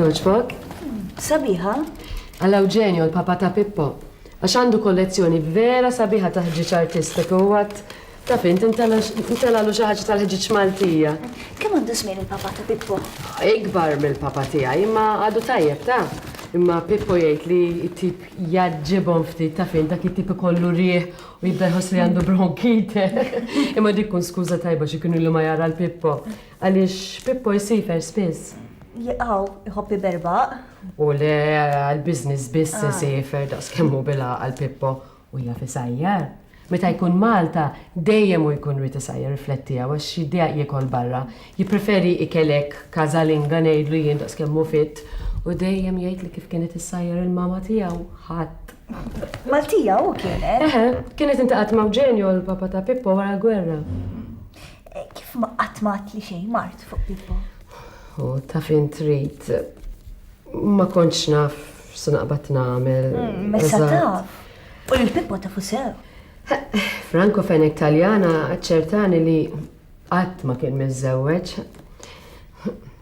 Togħġbok? Sabiħa? Għal Eugenio, l-papa ta' Pippo. Għax għandu kollezzjoni vera sabiħa ta' ħġieġ artistik u għat Taf int, intelagħlu xi ħaġa tal-ħġieġ Maltija. Kemm għandu żmien il-papà ta' Pippo? Ikbar mill-papà tiegħi, imma għadu tajjeb, taf. Imma Pippo jgħid li t-tip jgħaġġibhom ftit, taf int, dak it-tip ikollu riħ u jibda jħoss li għandu bronkite. Imma dik tkun skuża tajba xi kien ilu ma jara 'l Pippo. Għaliex Pippo jsifer spiss. Jqaw, iħobb iberbaq. U le, għall-business biss isifer, daqs kemm hu bil-għaqal Pippo. U jaf isajjar. Meta jkun Malta, dejjem hu jkun ried isajjar, riflettiha, għax jiddejjaq jiekol barra. Jippreferi ikel hekk każalinga ngħidlu jien daqskemm hu fit, u dejjem jgħidli kif kienet issajjar il-mama tiegħu, ħadd. Maltija hu kienet? Eħe, kienet intaqgħet ma' Wġenjo, l-papa ta' Pippo wara l-gwerra. Kif ma qatt ma għadtli xejn mart fuq Pippo? U taf int trid. Ma kontx naf X'se naqbad nagħmel? Messa taf. U lil Pippo tafu sew. Franco Fenek Taljana ċertani li qatt ma kien miżżewweġ.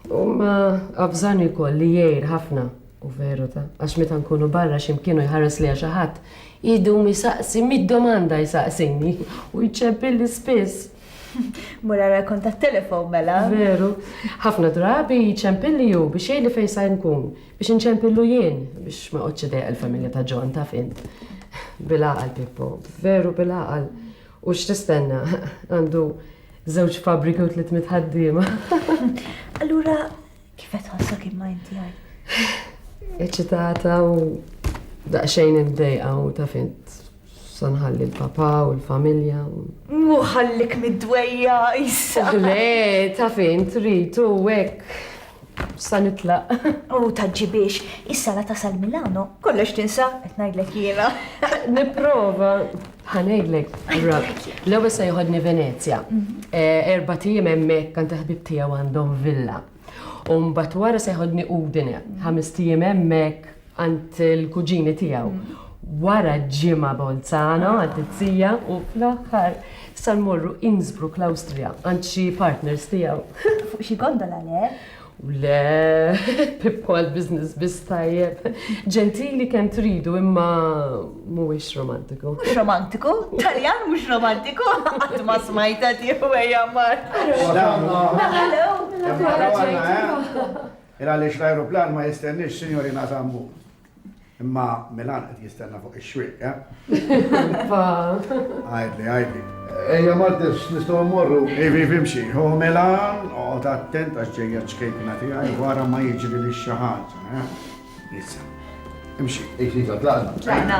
U ma avżani wkoll li jgħir ħafna u veru ta' għax meta nkunu barra x'imkienu jħares li xi ħadd idu misaqsi mid-domanda jsaqsini u jċebbilli spiss. Mura ra kont tat-telefon mela. Veru. Ħafna drabi jċempilli hu biex jgħidli fejn sa nkun, biex inċempillu jien biex ma qgħodx idejjaq il-familja ta' John taf int. Bil-għaqal Pippo, veru bil-għaqal. U x'tistenna għandu żewġ fabbriki u tliet mitħaddiema. Allura Kif qed ħassok imma inti għaj? Eċitata u daqsxejn imdejqa u ta' fint sanħalli l-papa u l-familja. Muħallik mid-dwejja, issa. Le, ta' fint trid u hekk sa nitlaq. U taġġibiex, issa la tasal Milano, kollox tinsa, qed ngħidlek jiena. Nipprova. Ħa ngħidlek, l-ewwel se joħodni Venezja. Eh, erba' tiem hemmhekk kan taħbib tiegħu għandhom villa. U mbagħad wara se joħodni Udine, ħames tiem hemmhekk għand il-kuġini tiegħu. Wara ġimgħa Bolzano għal tizzija u fl-aħħar sal-morru Innsbruck l-Awstrija għand xi partners tiegħu. Fuq xi gondola le? Le, Pippo għall-business biss tajjeb. Ġentili kemm tridu imma mhuwiex romantiku. Mhux romantiku? Taljan mhux romantiku? Qatt ma smajta tieħu ejja mar. Ira li l-ajruplan ma jistenniex, Sinjorina Zambu. Imma Milan qed jistenna fuq ix-xwieq, eh? Għajdli, għajdli. Ejja Martins, nistgħu mmorru. Ivi, vimxi, hu Milan, oqgħod attent għax ġejja ċkejkna tiegħi wara ma jiġri li xi ħaġa, eh? Issa. Imxi. Iva, tlaqna. Tlaqna.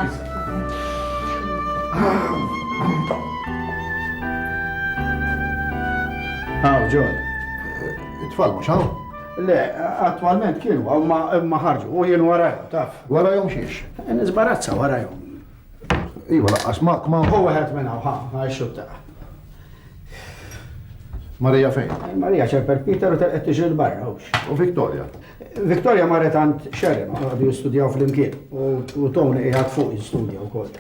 Għaw, ġol. It-tfal mhux hawn? Le, attwalment kienu hawn ma imma ħarġu u jien warajhom taf. Warajhom xiex? Nisbarazza warajhom. Iva laqqas ma ma. Hu wieħed minn hawn ħa ħa xutta. Marija fejn? Marija ċerper Peter u telqet tiġri l-barra hux. U Victoria? Victoria marret għand Sharon għadu jistudjaw fl-imkien u Tony qiegħed fuq jistudja wkoll.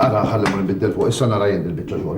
Ara ħalli ma nbiddel fuq issa nara jien il-biċċa xogħol.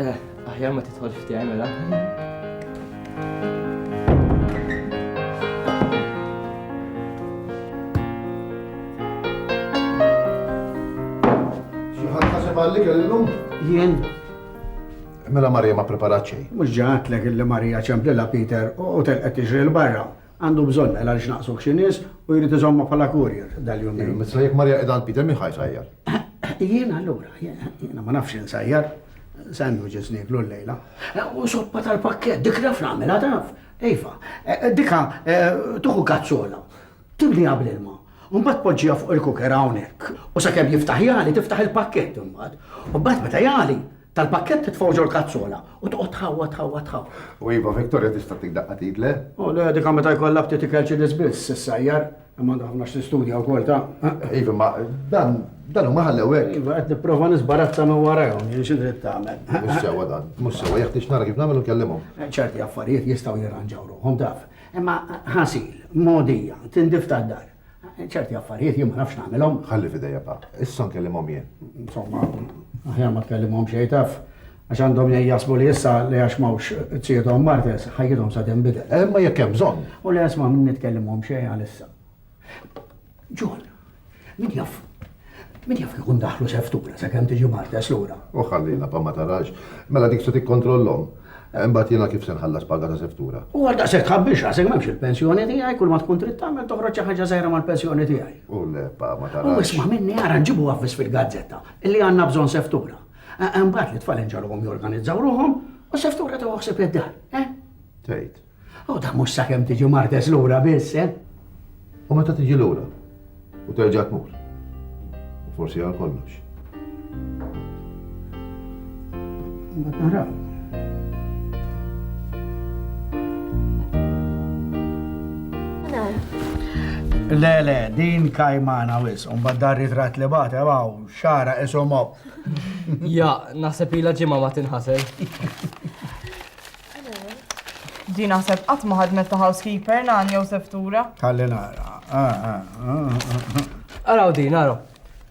Eh, aħjar ma titħolx f'tiegħi mela. Xi ħadd ħaseb għalik illum? Jien. Mela Marija ma preparat xejn. Mhux ġatlek illi Marija ċemplilha Peter u telqet tiġri l-barra. Għandu bżonn mela għaliex naqsuh xi nies u jrid iżommha bħala courier dal-jumejn. Iva, meta jekk Marija qiegħda għand Peter min ħa jsajjar? Jien allura, jiena ma nafx insajjar. Sandwiches nieklu llejla. U soppa tal-pakkett, dik naf nagħmilha taf. Iva, dika tuħu kazzola, timliha bl-ilma. Mbagħad poġġiha fuq il-kuker hawnhekk. U sakemm jiftaħ jagħli tiftaħ il-pakkett imbagħad. U mbagħad meta jagħli, Tal-pakkett titfgħu ġol kazzola u toqgħod tħawwa tħawwa tħaw. U iva Victoria tista' tik daqqa tit le? U le dika meta jkollha ftit ikel ċilis biss issajjar, imma għandha ħafna x'tistudja wkoll ta'. Iva ma dan dan huma ħallew hekk. Iva qed nipprova nisbarazza minn warajhom, jien xi trid tagħmel. Mhux sewwa dan, mhux sewwa jeħtieġ nara kif nagħmel u nkellimhom. ċerti affarijiet jistgħu jirranġaw ruħhom taf. Imma ħasil, mogħdija, tindif tad-dar. Ċerti affarijiet jien ma nafx nagħmilhom. Ħalli f'idejja pa. Issa nkellimhom jien. Insomma, aħjar ma tkellimhom xejn taf. Għax għandhom jgħin jaħsbu li issa li għax m'hawnx tsiedhom martes, ħajjithom sa tinbidel. Eh, imma jekk hemm bżonn. U le isma' min nitkellimhom xejn għalissa. John, min jaf, Min jaf kieku ndaħlu seftura sakemm tiġi Martes lura. U ħallina pa ma tarax. Mela dik se tikkontrollhom. Eh, imbagħad jiena kif se nħallas paga ta' seftura. U għal daqshekk tħabbix rasek m'hemmx il-pensjoni tiegħi kull ma tkun trid tagħmel toħroġ xi ħaġa żgħira mal-pensjoni tiegħi. U le pa ma tarax. U isma' minni ara nġibu avvis fil-gazzetta illi għandna bżonn seftura. Eh, imbagħad li tfal inġalhom jorganizzaw ruħhom u seftura ta' waħseb id-dar. Eh? Tgħid. U da mhux sakemm tiġi martes lura biss, eh? U meta tiġi lura u terġa' tmur. U forsi għal kollox. Mbagħad naraw. Le, le, din kajmana wis, un baddar ritrat li bate, għaw, xara, isom Ja, naħseb ila ġimma ma tinħasel. Di naħseb qatt ma ħadmet ta' housekeeper nan jew seftura. Kalli nara. Ah, ah. Araw din, araw.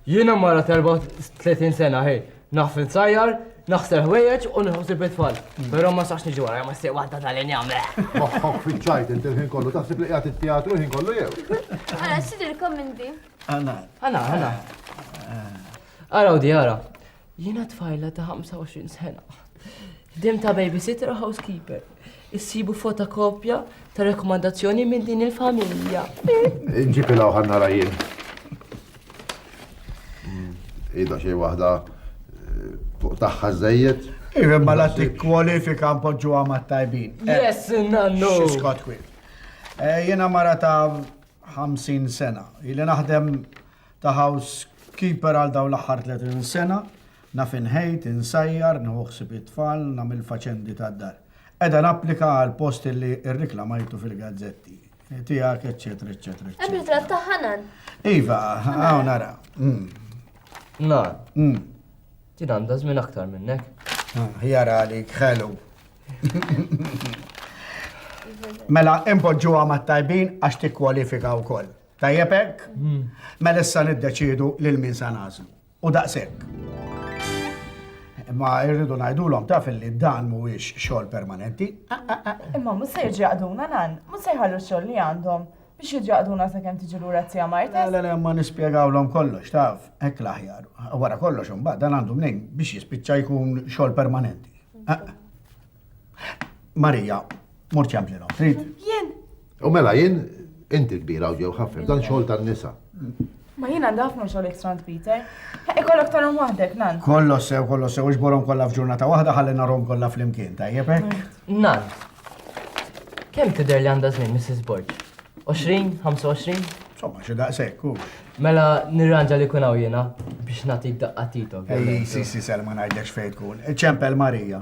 Jiena mara terba 30 sena, hej. Naħfil sajjar, naħsel ħwejjeġ u nħosib it-tfal. Però ma sax niġi wara, ma sej waħda tal-injam. Moħħok fiċċajt inti l-ħin kollu, taħseb li qiegħed it-teatru ħin kollu jew. Ara, xidilkom minn di. Għana. Għana, għana. Araw di, ara. Jiena tfajla ta' 25 sena. Ħdim ta' babysitter u housekeeper. Issibu fotokopja ta' rekomandazzjoni minn din il-familja. Ġipi law ħanna rajin. Mm, ida xej wahda eh, fuq taħħa zzejiet. Iva ma la tikkwalifika mpoġġu għamat tajbin. Eh, yes, nannu. Xiskot kwil. Eh, Jena mara ta' 50 sena. Ili naħdem ta' housekeeper għal dawn l-aħħar 30 sena, naf inħejt, insajjar, nieħu ħsieb it-tfal, nagħmel faċendi tad-dar. Qiegħda napplika għal post illi rriklamajtu fil-gazzetti tiegħek, eċċetera, eċċetera. Hemm ritratt ta' Hanan. Iva, hawn nara. Mm. Na. Mm. Ti għandha żmien aktar minnek. Ah, jara għalik, ħelu. Mela, impoġġuha mat-tajbin għax tikkwalifika wkoll. Tajjeb hekk? Mela issa niddeċiedu lil min se nagħżlu. U daqshekk. Imma irridu ngħidulhom taf li dan mhuwiex xogħol permanenti. Imma mhux se jiġi jaqduna nan, mhux se jħallu x-xogħol li għandhom biex jiġi jaqduna sakemm tiġi lura t-tija Marta. Le, le, ma nispjegawlhom kollox, taf, hekk l-aħjar. Wara kollox imbagħad dan għandu mnejn biex jispiċċa jkun xogħol permanenti. Marija, mort jamplina, trid? Jien. U mela jien, inti kbira u ġew ħafna, dan xogħol tan-nisa. Ma jien għandha ħafna xogħol ekstra Peter. Ikollok tarhom waħdek, nan. Kollo sew, kollo sew, iġborhom kollha f'ġurnata waħda ħalli narhom kollha flimkien, tajjeb hekk? Mm. Nan. Kemm tidher li għandha żmien Mrs. Borg? 20, 25? Somma, xi daqshekk u. Mela nirranġa li kun hawn jiena biex nagħtik daqqa titok. Ej, si si Selma ngħidlek x'fejn tkun. Ċempel Marija.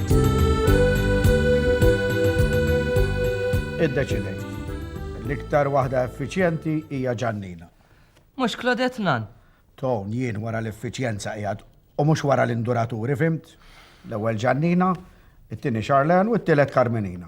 Iddeċidejt. L-iktar waħda effiċjenti hija Ġannina. Mhux Claudette Nan? Ton, jien wara l-effiċjenza qiegħed u mhux wara l-induraturi, fimt? L-ewwel Ġannina, it-tieni Charlene u t-tielet Carmenina.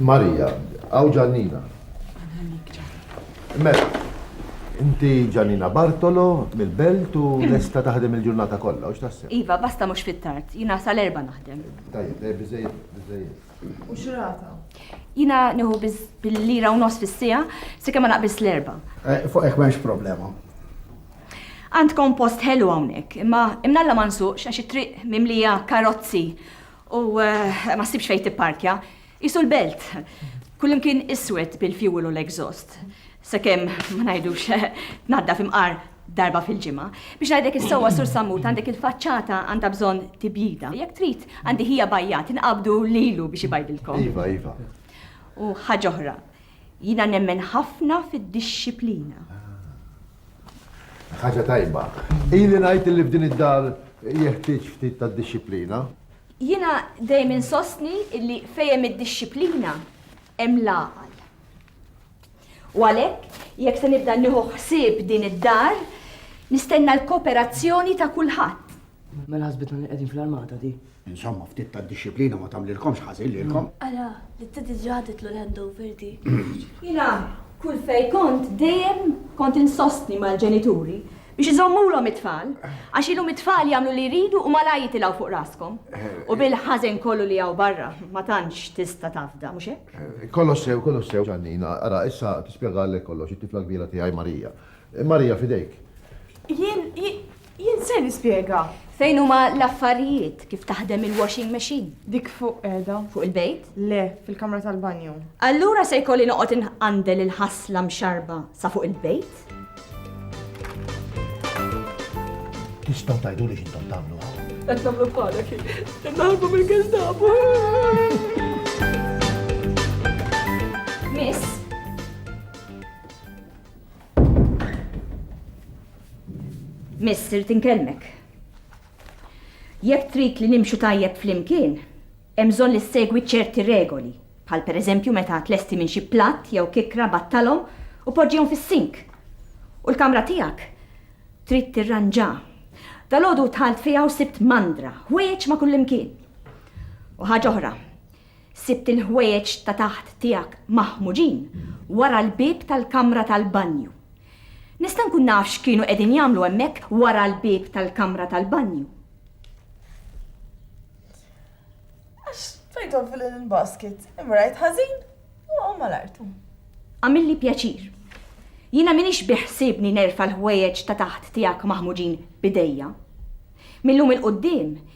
Marija, għaw Ġannina. Mela, inti Ġannina Bartolo mill-belt u lesta taħdem il-ġurnata kollha, u x'taħseb? Iva, basta mhux fit-tard, jina sal-erba naħdem. Tajjeb, eh, biżejjed, biżejjed. U xrata? Jina nieħu biz bil-lira u nos fis-sija, se kemm ma naqbis l-erba. Eh, fuq hekk m'hemmx problema. Għandkom post ħelu hawnhekk, imma imnalla ma nsuqx għax it-triq mimlija karozzi U ma ssibx fejn tipparkja. Qisu l-belt. Kullimkien iswed bil-fuel u l-exhaust. Sakemm ma ngħidux tnaddaf imqar darba fil-ġimgħa. Biex ngħidlek is-sewwa Sur Sammut għandek il-faċċata għandha bżonn tibjida. Jekk trid għandi ħija bajjat inqabdu lilu biex ibajdilkom. Iva, iva. U ħaġa oħra, Jiena nemmen ħafna fid-dixxiplina. Ħaġa tajba. Ili ngħid li f'din id-dar jeħtieġ ftit ta' dixxiplina. Jiena dejjem insostni li fejn hemm id-dixxiplina hemm l-għaqal. U għalhekk, jekk se nibda nieħu ħsieb din id-dar, nistenna l-kooperazzjoni ta' kulħadd. Mela ħasbitna li qegħdin fl-armata di. Insomma, ftit ta' disciplina ma tagħmlilkomx ħażin lilkom. Ara, li t-tidi ġaditlu l-handover di. Jina, kull fej kont dejjem kont insostni mal-ġenituri biex iżommulhom it-tfal, għax ilhom it-tfal jagħmlu li jridu u malaj jitilgħu fuq raskom. U bil-ħażen kollu li hawn barra, ma tantx tista' tafda, mhux hekk? Eh, kollox sew, kollox sew, Ġannina, ara, issa tispjegalek kollox it-tifla kbira tiegħi Marija. Eh, Marija fidejk. Jien, Jien ser nispjega. Fejn huma l-affarijiet? Kif taħdem il-washing machine? Dik fuq qiegħda. Fuq il-bejt? Le, fil-kamra tal-banju. Allura se jkolli noqgħod inqandel il-ħasla mxarrba sa fuq il-bejt? Tistgħu tgħiduli x'intom tagħmlu hawn? Qed nagħmlu bħalek, qed naħarbu mill-Gestapo. Miss, Miss, irrid inkellmek. Jekk trid li nimxu tajjeb flimkien, hemm bżonn li ssegwi ċerti regoli, bħal pereżempju meta tlesti minn xi platt jew kikkra battalhom u poġġihom fis-sink. U l-kamra tiegħek trid tirranġa. Dalgħodu dħalt fiha u sibt mandra, ħwejjeġ ma' kullimkien. U ħaġa oħra, Sibt il-ħwejjeġ ta' taħt tiegħek maħmuġin wara l-bieb tal-kamra tal-banju. Nista' nkun naf x'kienu qegħdin jagħmlu hemmhekk wara l-bieb tal-kamra tal-banju? Għax tajthom fil-linen basket, imma rajt ħażin u waqgħu mal-art. Għamilli pjaċir. Jiena m'iniex biħsiebni nerfa' l-ħwejjeġ ta' taħt tiegħek maħmuġin b'idejja. Mil-lum 'il quddiem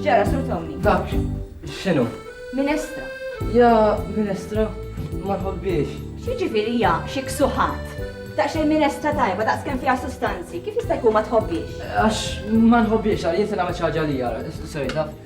X'ġara Sur Tony? Dak, x'inhu? Minestra. Ja, minestra, ma nħobbiex. X'jiġifieri ja xi ksuħat? Daqsxejn minestra tajba daqs kemm fiha sustanzi, kif jista' jkun ma tħobbiex? Għax ma nħobbiex għal jinsi nagħmel xi ħaġa li jara, sejda.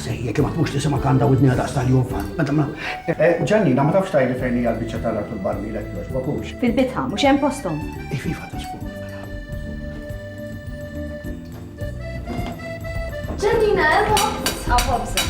Sej, jekk ma tkunx tisimgħek għandha widnejha daqs tal-jufa. Meta ma. Ġannina, ma tafx tgħidli fejn hija l-biċċa tal-art u l-barmil hekk jogħġbok hux. Fil-bitħa, mhux hemm posthom. Ejf, ejf, għadha xfuq. Ġannina, hemm sħab ħobża.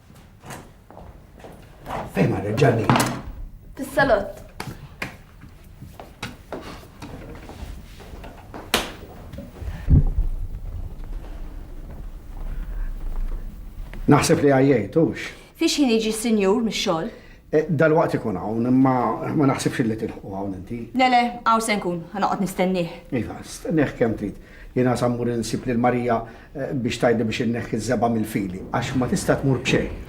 Fejn ma reġġalli? Fis-salott. Naħseb li għajjajtux. Fiex jien iġi sinjur mix-xogħol? E, dal-waqt ikun hawn, imma ma naħsibx li tilħu hawn inti. Le le, hawn se nkun, ħanoqgħod nistennih. Iva, stennih kemm trid. Jiena sammur insib lil Marija biex tgħidli biex inneħħi ż-żebgħa mill-fili għax ma tista' tmur b'xejn.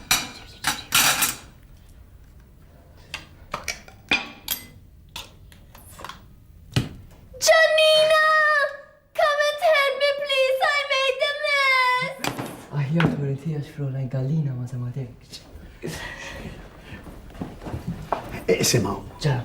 Iqsimaw. Ġara.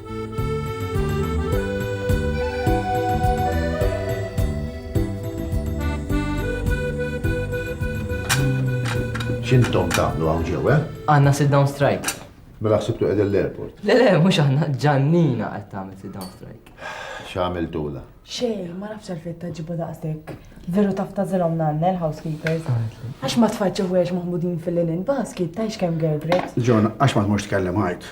X'intom tagħmlu hawn ġew, eh? Għandna sit down strike. Mela ħsibtu qegħdin l-airport. Le le, mhux aħna ġannina qed tagħmel sit down strike. X'għamiltula? Xejn, ma nafx għalfejn taġibu daqsek. Veru taf ta' zilhom nanna l-housekeepers. Għax ma tfaċċu għex maħmudin fil-linen basket, tajx kemm gergret. John, għax ma tmux tkellem ħajt.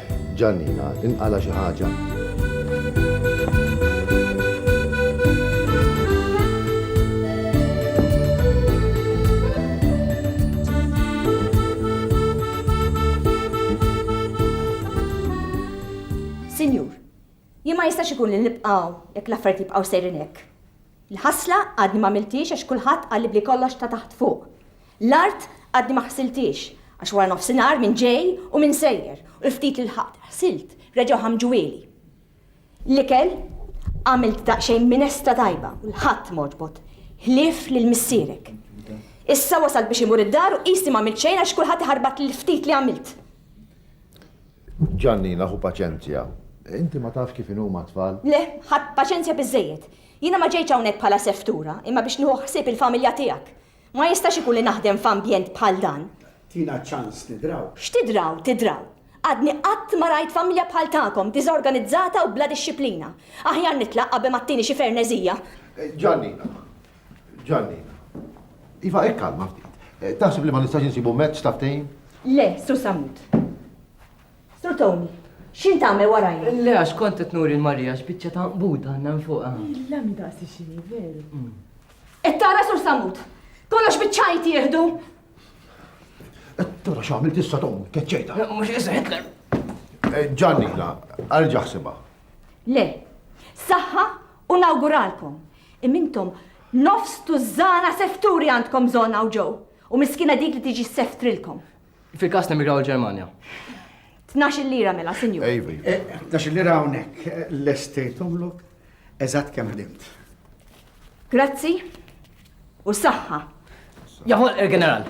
Giannina, inqala' xi ħaġa. Sinjur, jien ma jistax ikun li nibqa' hawn jekk l-affarijiet jibqgħu sejrin hekk. Il-ħasla għadni m'għamilthiex għax kulħadd qalli b'li kollox ta' taħt fuq. L-art għadni ma ħsilthiex għax wara nofsinhar min ġej u min sejjer u l-ftit li lħaqt ħsilt reġgħu ħammġuhieli. L-ikel għamilt daqsxejn minesta tajba u 'l ħadd m'għoġbot ħlief lil missierek. Issa wasalt biex imur id-dar u qisni m'għamilt xejn għax kulħadd iħarbatli l-ftit li għamilt. Ġannina ħu paċenzja. Inti ma tafx kif inhuma t-tfal. Le, ħadt paċenzja biżżejjed. Jiena ma ġejtx hawnhekk bħala seftura imma biex nieħu ħsieb il-familja tiegħek. Ma jistax ikun li naħdem f'ambjent bħal dan. Tina ċans nidraw. X'tidraw, tidraw. Għadni qatt ma rajt familja bħal tagħkom, diżorganizzata u bla dixxiplina. Aħjar nitlaq qabel ma ttini xi ferneżija. Ġannina, Ġannina. Iva, hekk kalma ftit. Eh, taħseb li ma nistax insibu mezz ta' ftehim? Le, Sur Samut. Sur Tony, xin tagħmel warajja? Le, għax kont qed nuri l-Marija x'biċċa ta' buda għandna fuqha. Illa mi daqsi xini, veru. Mm. Qed tara sur Samut? Kollox biċ-ċajt jieħdu! Qed tara x'għamilt issa tom, keċċejta. Mhux issa Hitler. Eh, Ġanni, la, arġa' ħsibha. Le, saħħa u nawguralkom. Imintom nofs tużżana sefturi għandkom żona u ġew. U miskina dik li tiġi seftrilkom. Fil-każ nemigraw il-Ġermanja. Tnax il-lira mela, sinjur. Ejvi. Eh, tnax il-lira hawnhekk eh, l-estate umlok eżatt kemm ħdimt. Grazzi u saħħa. Jaħol il-ġeneral.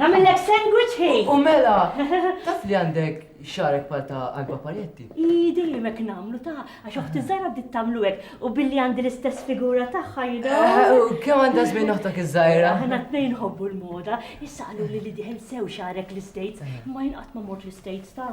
Namillek sandwich hi. U mela, taf li għandek xarek pal ta' għalba pajetti. I dejjem hekk nagħmlu ta' għax oħti żgħira bdiet tagħmlu hekk u billi għandi l-istess figura tagħha jidha. Eh, u kemm għandha żmien oħtok iż-żgħira? Aħna tnejn ħobbu l-moda, issa qalu li li diħel sew xarek l-States, eh. ma jinqatt ma mort l-States ta'.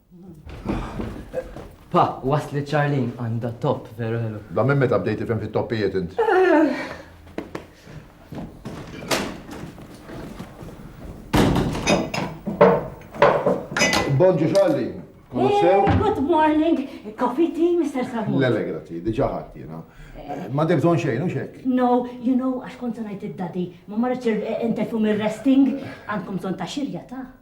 Pa, wasli Charlene għandha top veru ħelu. Da minn meta bdejt ifhem fit-toppijiet int. Bonġu Charlene. Eh, good morning, coffee tea, Mr. Samu. Lele, grazzi, diġa ħadd jiena. Eh. Ma deb bżonn xejn, u xek? No, you know, għax kont ngħid id-dadi, ma marriċ eh, intefu mir-resting, għandkom bżonn ta' xirja ta'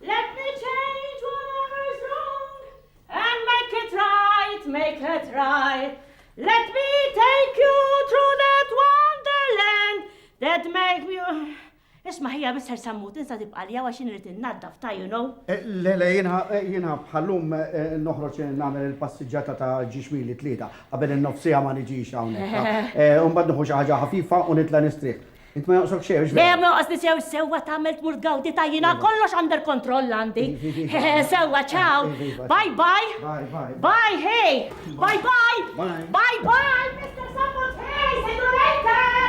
Let me change whatever's wrong And make it right, make it right Let me take you through that wonderland That make you Isma ħija Mr. Sammut, insa tibqa li għax nrid innaddaf ta' you know. Eh, le, le, jina eh, bħallum eh, noħroġ nagħmel il-passiġġata ta' ġiġmili tlieta qabel in-nofsija ma niġix hawnhekk. Umbagħad noħu xi ħaġa ħafifa u nitla' nistrieħ. Int ma jonqsok xejn, xbejn? Le, ma jonqosni sew sewwa tagħmel tmur tgawdi ta' jiena iva. kollox under kontroll għandi. Iva, iva, sewwa ċaw. Bye bye. Bye bye. Bye hey. Bye bye. Bye bye. Mr. Sammut hey, see you later.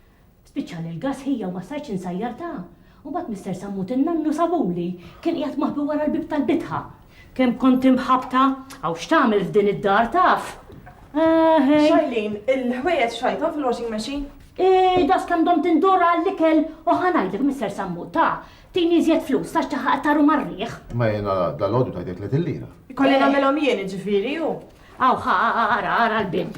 Spiċċali l-gass ħija u ma stajtx insajjartha. Mbagħad Mister Sammut in-nannu sabuli, kien qiegħed maħbi wara l-bieb tal-bitħa. Kemm kont imħabbta! Hawn x'tagħmel f'din id-dar taf? Eeħe! Shailene, il-ħwejjeġ xajthom fil-washing machine? Eeħ, daqs kemm domt indur għall-ikel u ħa ngħidlek Mister Sammut, ta, tini iżjed flus għax ċaħħaqt taru mar-riħ. Ma jiena dalgħodu tajtek tletin lira. Ikolli nagħmilhom jien jiġifieri, hu. Hawn, ara, ara l-bieb.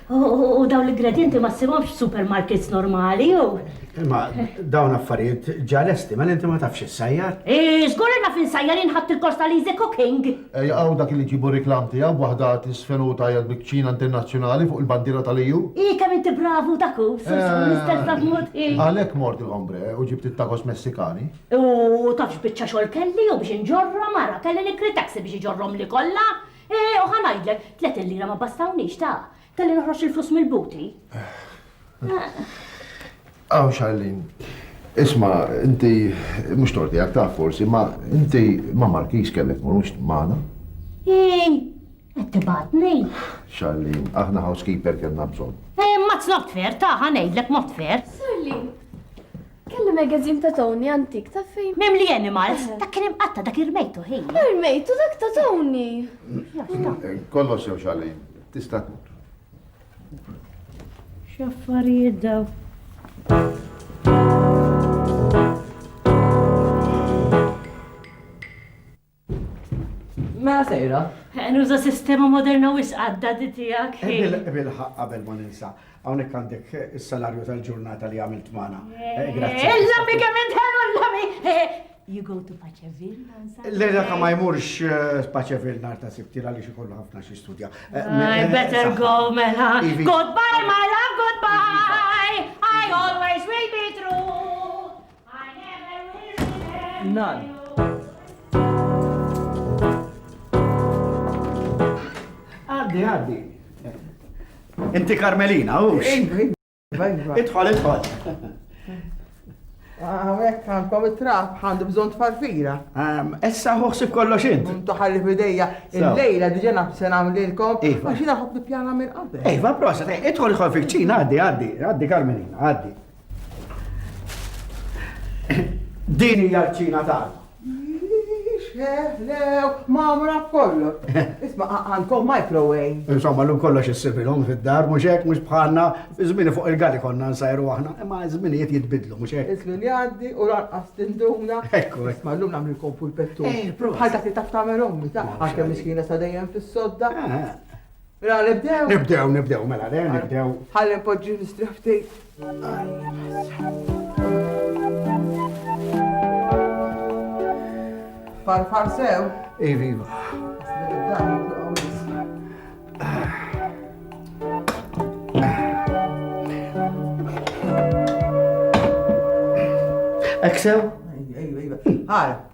U dawn l-ingredjenti ma ssibhomx f'supermarkets normali, u. Imma dawn affarijiet ġa lesti, mela inti ma tafx issajjar? Ii, żgur li naf insajjar jien ħadt il-kors tal-easy cooking! Ejja hawn dak li jġibu r-riklam tiegħu b'waħda tisfen u tgħajjat bi kċina internazzjonali fuq il-bandiera tal-EU! Ii, kemm inti bravu dak hu, Sur Sawl, l-istess dak mod, ii. Għalhekk mort il-Hombre u ġibt it-tacos Messikani. U taf x'biċċa xogħol kelli u biex inġorrhom, ara, kelli nikkri taxi biex iġorrhomli kollha! Eeh, u ħa ngħidlek, tliet il-lira ma bastawniex, ta! Kelli noħroġ il-flus mill-booty. Aw, Charlene, isma', inti, mhux tort tiegħek, taf forsi, imma inti ma' Markiż kellek tmur mhux magħna. Eeh, qed tibgħatni? Charlene, aħna housekeeper kellna bżonn. Eeh, ma' zlott fair, ta! Ħa ngħidlek mod fair. Charlene. Kelli magazine ta' Tony antik, taf fejn? Mimli animals, dak kien imqatta' dak irmejtu ħin. Irmejtu dak ta' Tony. Kollox jew xalin, tista' X'affarijiet daw? Mela sejra. Eh, nuża sistema moderna wis għaddadi tiegħek. Eh, Bilħaq qabel ma ninsa, hawnhekk għandek eh, is-salarju tal-ġurnata li għamilt magħna. Grazzi. Illami kemm intħelu illami! You go to Paċevilla? L-era ka ma jmurx Paċevilla nar ta' sibti għalli xikollu ħafna xi studja. I better go, mela. Goodbye, my love, goodbye! I always will be true! Nan. Għaddi, għaddi. Inti Karmelina, u? Idħol, idħol. Għawek, għandkom it-trab, għandu bżon tfarfira. Essa ħuħsib kollox int. Untu ħalli fidejja, il-lejla diġa nafsen għamlilkom, iva. għaxina ħob nipjana minn qabel. Ejva, prosa, idħol ħol fil-ċina, għaddi, għaddi, għaddi Karmelina, għaddi. Din hija l-ċina tagħna. Lew, mamra kollu. Isma' għandkom microwave. Insomma, l-lum kollox issibilhom fid-dar, mhux hekk mhux bħalna, żmini fuq il-gali konna nsajru aħna, imma żminijiet jitbidlu mhux hekk. Iż-żmien jgħaddi u lanqas tinduna. Ekku. Isma' llum nagħmlilkom full pettu. Eh, bħal dak li taf tagħmel ommi ta' għalkemm miskina sa dejjem fis-sodda. Eh, eh. Mela nibdew? Nibdew, nibdew, mela le, nibdew. Ħalli npoġġi nistrieħ ftit. Farfar sew? Ivi, iva. Eksew? Iva, iva. Ħara.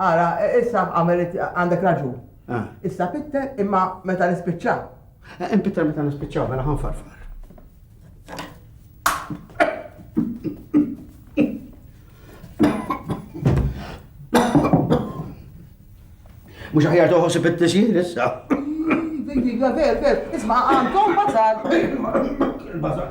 Ara, issa għamilt, għandek raġun. Ah. Issa Pitter, imma meta nispiċċaw. Eh, eh, Pitter meta nispiċċaw, mela ħanfarfar. Mux ħajar toħos fit-tisjir issa. Diga, ver, ver, isma' għandkom bazar. Il-bazar.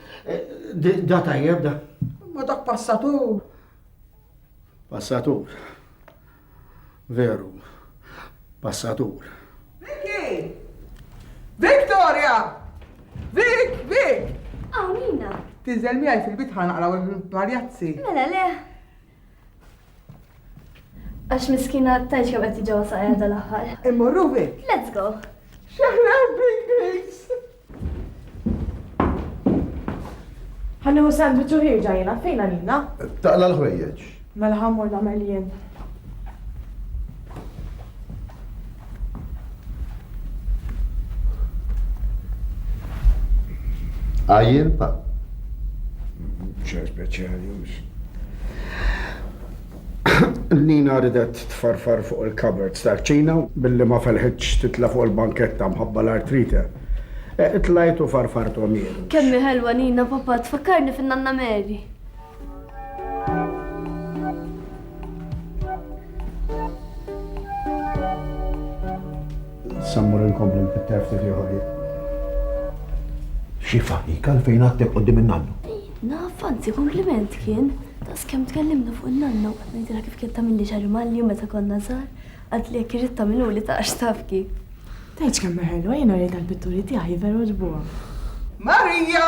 Da tajjeb da. Ma dak passatur. Passatur. Veru. Passatur. Vicky! Victoria! Vic, Vic! Għawina! Tinżel miegħi fil-bitħa naqraw il-marjazzi. Mela le. Għax miskina tajt kemm qed tiġewwa saqajja dal-aħħar. Immorru fik. Let's go. Xaħna big grace. Ħanni u sandwich u ħirġa jena, fejna nina? Taqla l-ħwejjeġ. Mela ħammur namel jien. Għajjel pa? ċer speċjali mhux. Nina ridet tfarfar fuq il-cupboards tal-ċina billi ma felħitx titla fuq il-banketta mħabba l-artrite. E, Tlajtu farfartu għamir. Kemmi ħelwa Nina papa tfakkarni fin-nanna Mary. Sammur inkompli nfitter ftit ieħor. Xi faħika fejn għatteb qudiem in-nannu. Naf, anzi kompliment kien. Tas kemm tkellimna fuq in-nannu, qed ngħidilha kif kien tagħmilli xi rimalju meta konna żgħar, għad li jekk irid tagħmilu li taqax taf kif. Tgħidx kemm ħelwa jiena rejt għall-pitturi tiegħi veru ġbuha. Marija!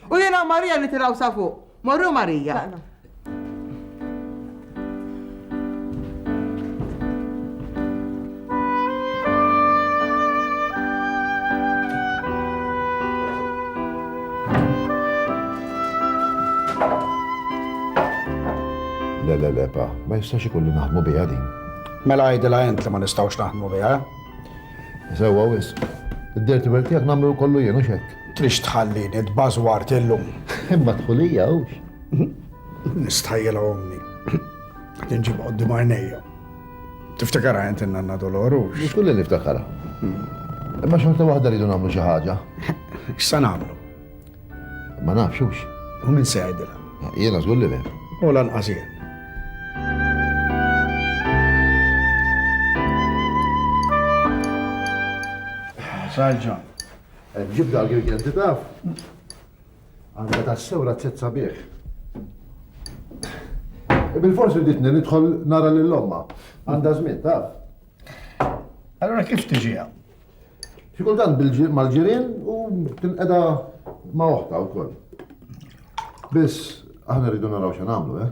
U jiena u Marija nitilgħu sa fuq. Morru Marija. Tlaqna. Le, le, le, pa, ma jistax ikun li naħdmu biha din. Mela għajdila int li ma nistgħux naħdmu biha. Sewwa wis. Id-dirty work tiegħek nagħmlu kollu jien u xekk. Trix tħallini tbażwart illum? Imma dħulija hux. Nistħajjilha ommi. Qed inġibha quddiem għajnejja. Tiftikarha int in-nanna Dolor hux? Żgur li niftakarha. Imma xorta waħda rridu nagħmlu xi ħaġa. X'sa nagħmlu? Ma nafx hux. U min se jgħidilha? Jiena żgur li le. U lanqas jien. Sarġa, Ġib dak il-genti taf? Għandha tassew razzett sabiħ. Bil-forsi ditni nidħol nara lil omma. Għandha żmien taf. Allora kif tiġiha? Xi kultant mal-ġirien u tinqeda ma' oħta wkoll. Biss aħna rridu naraw xi nagħmlu, eh?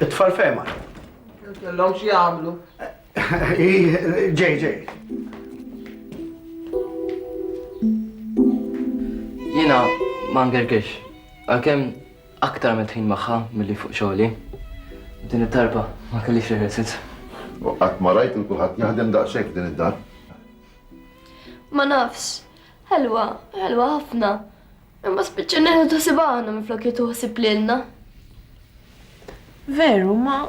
It-tfal fema. Kellhom xi jagħmlu. Ġej, ġej. Jiena ma ngergirx, għalkemm aktar minn tħin magħha milli fuq xogħli. Din it-tarba ma kellix rehearsals. U qatt ma rajt il kulħadd jaħdem daqshekk din id-dar. Ma nafx, Ħelwa, ħelwa ħafna. Imma spiċċa neħdu ħsieb aħna minflok jieħdu ħsieb lilna. Veru, ma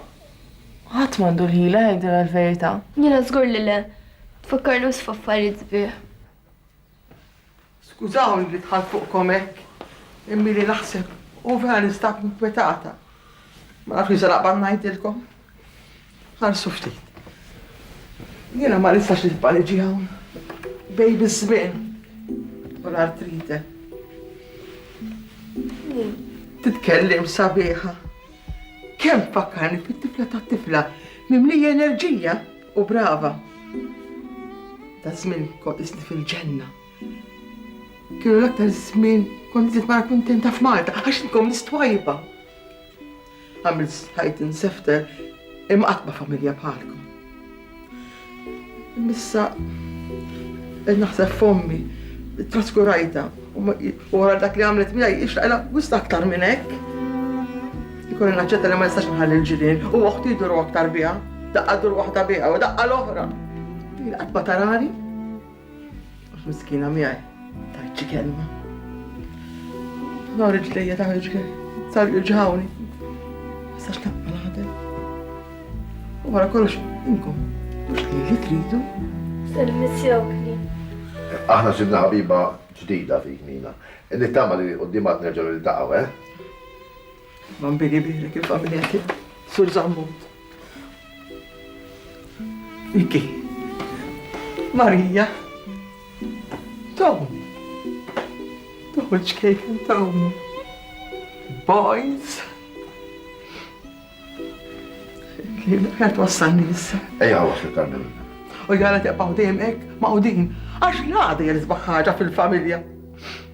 ħadd m'għandu l-ħila jgħidilha l-verità. Jiena żgur li le. Tfakkarni wis f'affarijiet sbieħ. Skużawni li dħalt fuqkom hekk, imma li naħseb u vera ninstab inkwetata. Ma nafx li se naqbad ngħidilkom. Ħarsu ftit. Jiena ma nistax nitbaliġi hawn. Bej biż-żmien u l-artrite. Titkellim sabiħa. Kemm fakkarni fit-tifla tat-tifla mimlija enerġija u brava. Ta' żmien kont isni fil-ġenna. Kienu l-aktar żmien kont nara kuntenta f'Malta għax nkom nistwajba. Għamilt stajt insefter imma qatt ma familja bħalkom. Missa qed naħseb f'ommi traskurajta u wara dak li għamlet miegħi ixtaqla wista aktar minn hekk. Ikun naċċetta li ma nistax nħalli l-ġirien u oħti jduru aktar biha, daqqa dur waħda biha u daqqa l-oħra. Qatt ma tarani. Miskina miegħi tajt xi kelma. Nor ġlejja ta' ġgħi, sar ġawni. Sax naqqa naħdem. U wara kollox inkom, mhux li li tridu. Servizjok li. Aħna ġibna ħabiba ġdida fik mina. Nittama li qudiemat nerġgħu niltaqgħu, eh? Bambini birek il-familja tiegħek, Sur Zammu. Miki. Marija. Tom. Toħroġ kejk Tom. Boys. Kien qed wassalni issa. Ejja waħda tal-minn. U jara teqgħu dejjem hekk maqudin. Għax l-għada jrisbaħ ħaġa fil-familja.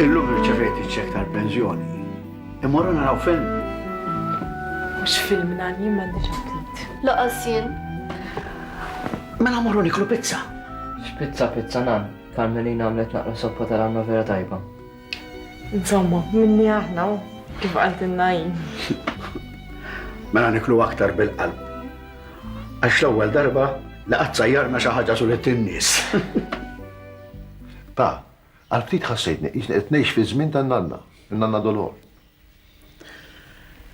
Illum irċevejt iċ-ċek tal-pensjoni. Immorru naraw film. Mhux film nani m'għandix aptit. Laqas jien. Mela morru niklu pizza. F'pizza pizza nan, Carmelina għamlet naqra soppa ta' ranna vera tajba. Insomma, minni aħna, kif qaltilna hi. Mela niklu aktar bil-qalb. Għax l-ewwel darba li qatt sajjarna xi ħaġa sulet in-nies. Pa, għal ftit ħassejtni qisni qed ngħix fiż-żmien tan-nanna, in-nanna Dolor.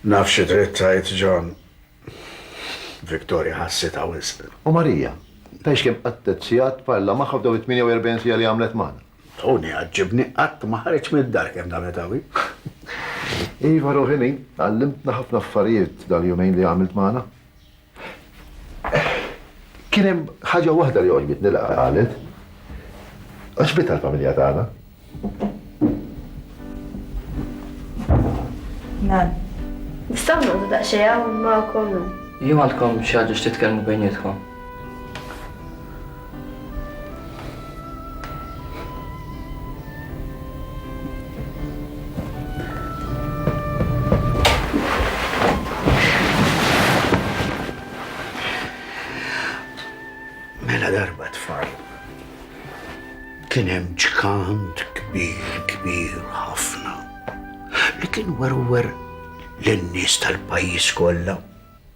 Naf xi trid tgħid, John. Victoria ħassitha wisq. U Marija? Tgħidx kemm qatgħet sigħat tparla magħha f'dawn it-48 siegħa li għamlet magħna. Tony jgħaġġibni, qatt ma ħareġ mid-dar kemm damet qawwi. Iva ruħi min, għallimtna ħafna affarijiet dal-jumejn li għamilt magħna. Kien hemm ħaġa waħda li għoġbitni li qalet. Għaxbitha l-familja tagħna. Nan. Nistaw nudu daqxeja u ma' kollu. Jom għandkom xaġa x'titkellmu bejnietkom. kien hemm ġkant kbir kbir ħafna li kien werwer lin-nies tal-pajjiż kollha.